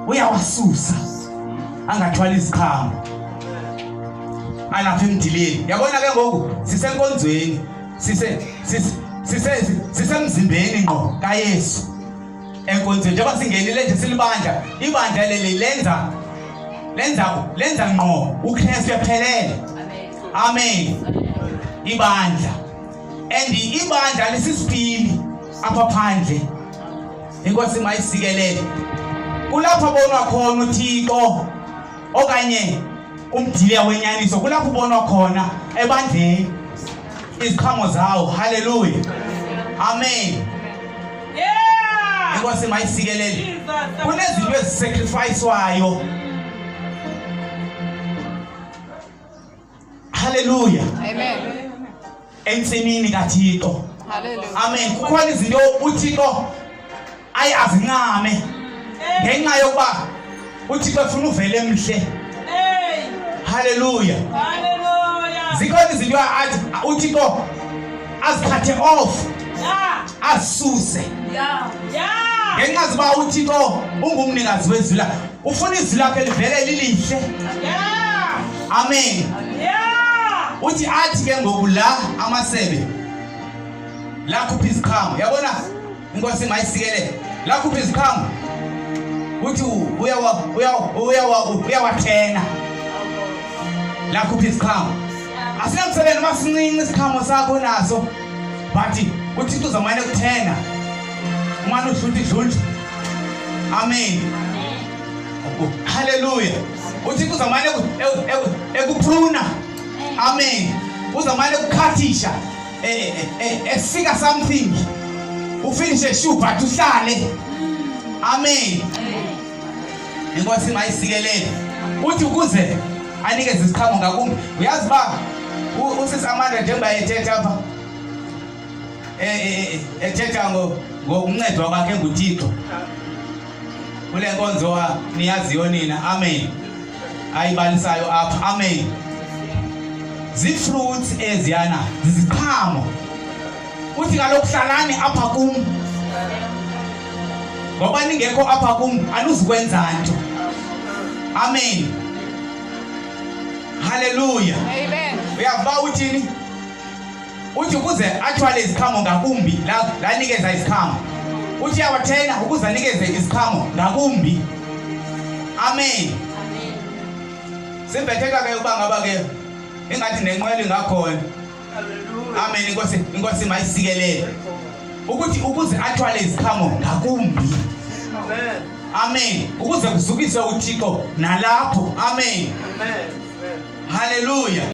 uyawasusa angathwali iziqhamo alapha emdileni yabona ke ngoku sisenkonzweni sisemzimbeni ngqo kayesu enkonzweni njengoba singenile nje silibandla ibandla leli lenza lenza lenza ngqo ukristu ephelele amen ibandla and ibandla lisisipili apha phandle inkosi mayisikelele kulapho bonwa khona uthixo okanye umdiliya wenyaniso kulapho ubonwa khona ebandleni iziqhamo zawo halleluya amen inkosi mayisikelele kunezinto ezisacrificewayo Haleluya. Amen. Entsimini kaThixo. Haleluya. Amen. Kukhona izinto uThixo ayi azincame ngenxa yokuba uThixo efuna uvele emhle. Hey. Haleluya. Haleluya. Zikhona izinto athi uThixo azithathe off. Yeah. Asuse. Yeah. Yeah. Ngenxa zoba uThixo ungumnikazi wezwi lakhe. ufuna izwi lakhe livele lilihle amen uthi athi ke ngoku la amasebe lakhupha iziqhamo yabona inkosi mayisikelele lakhupha iziqhamo uthi uyawathena lakhupha iziqhamo asinamsebenzi uma sincinci isiqhamo sakho naso but uthixo uzamane kuthena umane udlula idlula Amen. Haleluya. UThixo uzamane ekuphuna. Amen. Uzamane ukukhathisha. Eh, eh, eh, efika something. Ufinishe shu but uhlale. Amen. Inkosi mayisikelele. Uthi ukuze anikeze isiqhamo ngakumbi. Uyazi ba usisi Amanda njengoba ethetha apha eh, ethetha ngokuncedwa kwakhe nguthixo kule nkonzo niyaziyo nina amen ayibalisayo apha amen zii-fruits eziyana ziziqhamo uthi kaloku hlalani apha kum ngoba ningekho apha kum anuzikwenza nto amen haleluya uyavuba uthini uthi ukuze athwale iziqhamo ngakumbi lanikeza iziqhamo uthi awathenga ukuze anikeze iziqhamo ngakumbi amen simbetheka ke uba ngaba ke ingathi nenqwelo ingakhona amen inkosi inkosi mayisikelele ukuthi ukuze athwale iziqhamo ngakumbi amen ukuze kuzukise uthixo nalapho amen haleluya